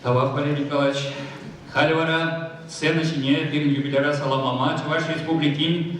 Тӑван Валерий Николаевич, халь вара сцена ҫине пирӗн юбиляра саламлама Чӑваш Республикин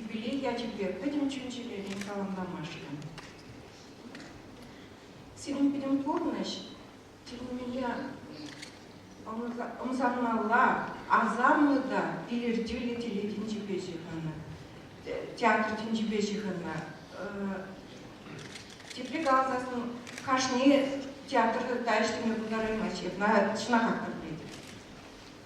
Юбилей ячӗпе пӗтӗм чун-чӗререн саламламашкӑн. Сирӗн пӗтӗм пурнӑҫ тӳрремеле ӑмсанмалла, асамлӑ та илӗртӳллӗ телейтин тӗнчипе ҫыхӑннӑ, театр тӗнчипе ҫыхӑннӑ. Тепре каласан, кашни театрта ӗҫлеме пултараймасть, ҫакна чӑнахах та пӗлетӗп.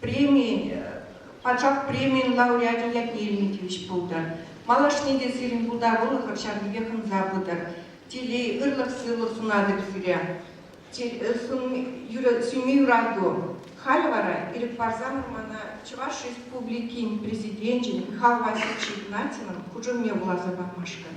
преми, пачах премин лауреачӗ ятне илме тивӗҫ пултӑр. Малашне те сирӗн пултарулӑха ҫавнипех ӑнса пытӑр. Телей, ырлӑх-сывлӑх сунатӑп сире. Сӳнми юрату. Халӗ вара ирӗк парсанӑр мана Чӑваш Республикин Президенчӗн Михаил Васильевич Игнатьевӑн хушӑвне вуласа памашкӑн.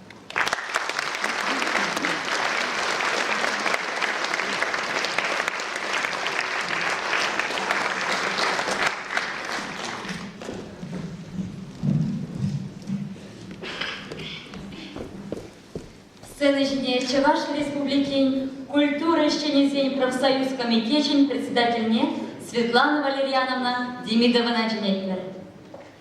Сцена ҫине Чӑваш Республикин культура ӗҫченӗсен профсоюз комитечӗн председательне Светлана Валерьяновна Демидована чӗнетпӗр.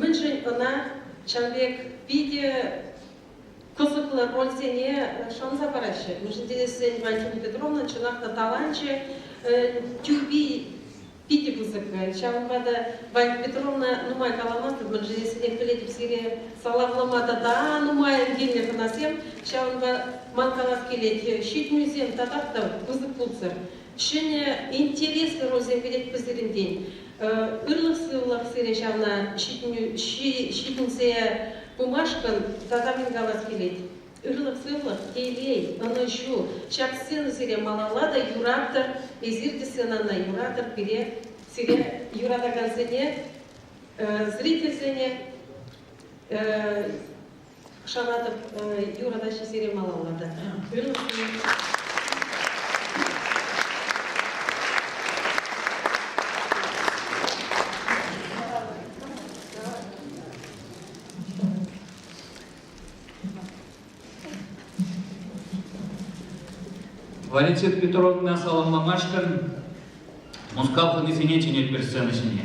Мӗншӗн ӑна ҫав пек питӗ кӑсӑклӑ рольсене шанса параҫҫӗ? Мӗншӗн тесен Валентина Петровна чӑнах та таланчӗ, тӳпи питӗ пысӑккӑн. Ҫавӑнпа та Валентина Петровна нумай каламан-тӑк, мӗншӗн тесен пӗлетӗп сире саламлама тата нумайӑн килнӗ хӑнасем. Ҫавӑнпа ман калас килет, ҫитӗнӳсем татах та пысӑк пулсӑр. Ҫӗнӗ, интереслӗ рольсем килетпӗр сирӗнтен. Ырлӑх-сывлӑх сире ҫавна ҫитӗнсе пымашкӑн тата мӗн калас килет. Ырлӑх-сывлӑх, телей, ӑнӑҫу, ҫак сцена сире малалла та юратӑр, эсир те сценана юратӑр, пире, сире юратакансене, зрительсене Шанатӑп, юрӑ таҫҫи сире малалла та Валентина Петровна саламламашкӑн Мускав хунисене чӗнет пер сцена ҫине.